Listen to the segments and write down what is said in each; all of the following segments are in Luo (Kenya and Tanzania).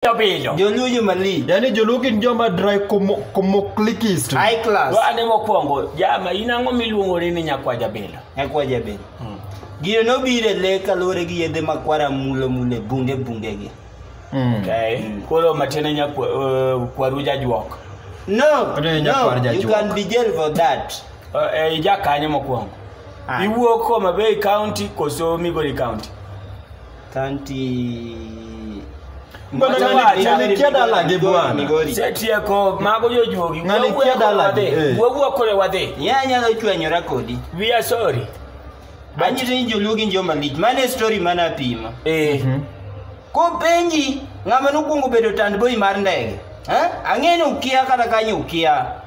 Piyo piyo. Joluo joma li. Yaani joluo gin joma dry komo komo clickist. High class. Wa ane mokwongo jama in ang'o miluongori ni nyakwa jabila? Nyakwa jabila. Hmm. Gino nobiro e le kaluwore gi yedhe makwara mulo mulo e bunge bunge gi. Hmm. Okay. Hmm. Koro matiende nyakwa uh, kwaru jajuok. No. No, you can be jail for that. Uh, eh, ija kanyo mokwongo. Ah. Iwuok Homa Bay County koso Migori County? Kanti. Mbona Wacha ng'ani- ni- ng'ani Migori, kia dala gi Migori, bwana? Migori. Setieko mago jojuogi. Ng'ani Wawuo kia dala wadhi. gi, eh. Wawuo kore wadhi. Ye anyalo chwanyora kodi. We are sorry. Anyite ni joluo gin joma lich. Mano e story mana apima. Eh. Kopenji ng'ama nokwongo bedo tandboi mar ndege. Eh? Ang'e ni ukia kata kanyo ukia.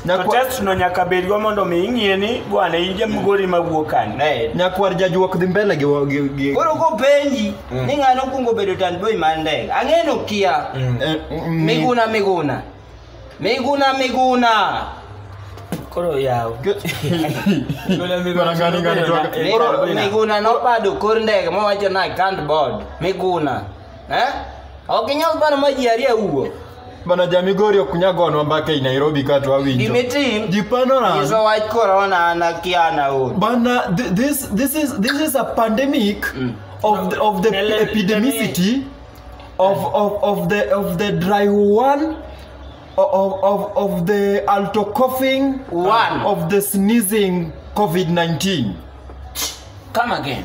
To test no nyaka bed go mondo mi ing'e ni bwana in jamgori ma wuok kanye. Eh. Nyakwar jajuok dhi mbele gi wa- gi- gi- Koro kopenji ni ng'ano okwongo bedo tanboy mar ndege. Ang'e ni okia. Eh, mm, Miguna miguna. Miguna miguna. Koro yaw. Miguna miguna. Ngani, ngani, tuwaka- Koro- Miguna nobado kor ndege mowacho ni I can't board. Miguna. Eh? Ok inyal paro ma ji ariyo wuok. Bana jamigori ok nyagonwa mbaka i Nairobi ka to awinjo. Gimitim Ji panoran. iso wach korona an akia an aol. Bana th- this this is this is a pandemic of the, of the Ele- epidemicity of of of the of the dry one of of of the alto coughing One. of the sneezing COVID-19. Come again.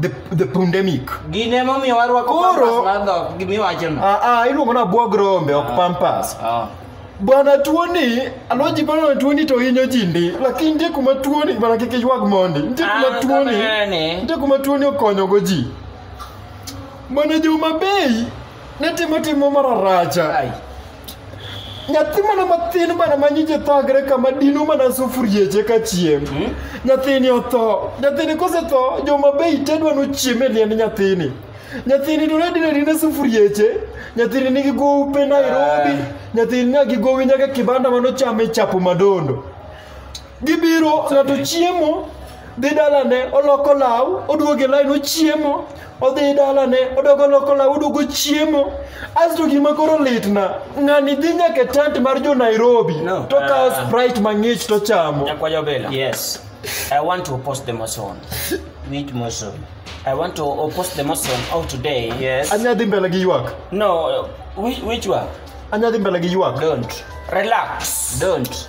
the, the pandemic Gin ema omiyo warwako Koro- pampas mar dhok gimiwachono. ah, ah, iluongo na bwog rombe ok pampas Ah. bwana tuoni alwaji bwana tuoni to hinyo ji ndi lakini nitie kuma tuoni bwana kik iywag mondi nitie kuma Ah, tuoni kamane. nitie kuma tuoni okonyogo ji bwana juma bei ne timo timo mararacha Ai. nyathi mana mathin mana ma nyinge thagre kama dino mana sufurieche ka chiem nyathini otho nyathini kosetho joma be itedwa nochiem e liend nyathini nyathini to ne dine dine sufurieche nyathini nigi gope nairobi nyathini nyagi gowi nyaka kibanda manochame chapo madondo gibiro ng'ato chiemo dhi dalane oloko law oduogo e lain ochiemo odhi dalane odogo oloko law oduogo chiemo asto gima koro litna ng'ani dhi nyaka e tent mar jo nairobi No. to kawo Ah. sprite mang'ich to chamo Nyakwayo Bella. Yes. I want to post the motion. Which motion? I want to uh, post the motion of today. Yes. anya dhi mbele gi ywak No, uh, which, which one? anya dhi mbele gi ywak Don't. Relax. Don't.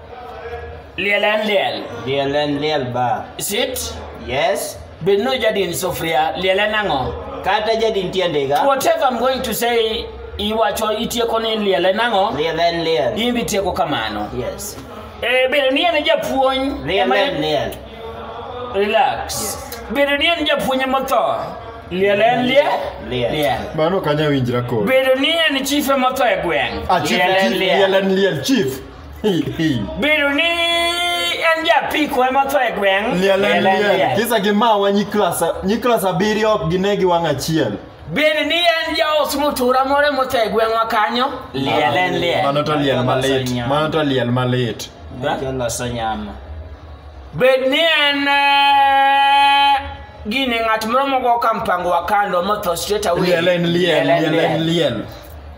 Liel en liel. Liel en liel ba. Sit. Yes. Bedno jadin sufria, liel en ang'o? Kata jadin tiende ga. Whatever I'm going to say, iwacho itieko ni liel en ang'o? Liel en liel. In bi tieko kamano. Yes. Eh, bedo ni en japuonj. Liel en liel. Relax. Yes. Bedo ni en japuonj motho. Liel en liel. Liel. Mano kanya winjra kod. Bedo ni en chief motho e gweng'. Ah, liel en liel. Liel en liel chief. Bedo ni en japiko ema tho e gweng'. Liel en liel. Kisa gi mawa nyi klas nyi klas abiriyo ok gine gi wang' achiel. Bedo ni en jaos mutura moro ema otho e gweng'wa kanyo. Liel en liel. Mano to liel malit. Mano to liel malit. Jaloso nyama. Bed ni en eh, gini ng'at moro mogo ka mpango wa kando motho straight away. Liel en liel. Liel en liel.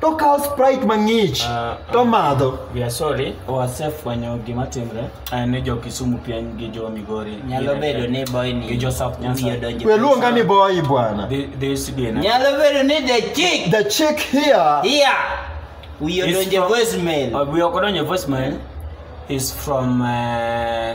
to kawo sprite mang'ich Ah, to madho we are sorry wasefwenyo gima timre eh, ni jo kisumu piny gi jo migori nyalo bedo ni boy ni Gi jo South Nyanza. wiye donjo we luonga ni boyi bwana Thi- this DNA. nyalo bedo ni the chick the chick here here wiye It's donjo from- voicemail Uh, we are going to voicemail is from uh,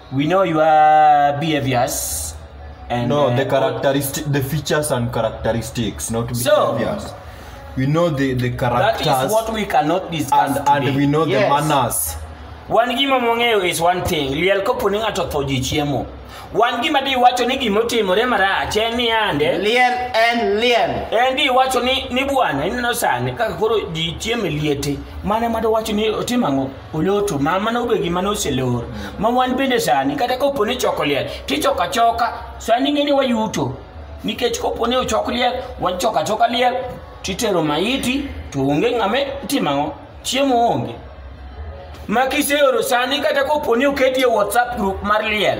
we know your behaviors and no uh, the characteristic the features and characteristics not So- behaviors we know the the that characters is what we cannot discuss and, and today. we know Yes. the manners wan gima mong'eyo is one thing liel kopo ni ng'ato otho ji chiemo wan gima di iwacho ni gima otimore marach en ni ande Liel en liel. en di iwacho ni ni bwana ineno sani kaka koro ji chiemo e liete mane mado wacho ni otim ang'o oloto ma mano be gima noselor ma wan bende sani kata ka oponi choko liel tichoko achoka sani ng'e ni wayuto nikech koponi ochok liel wachoko achoka liel titero maiti to onge ng'ame timo ang'o chiemo onge ma kiseoro sani kata koponi oketi e whatsapp group mar liel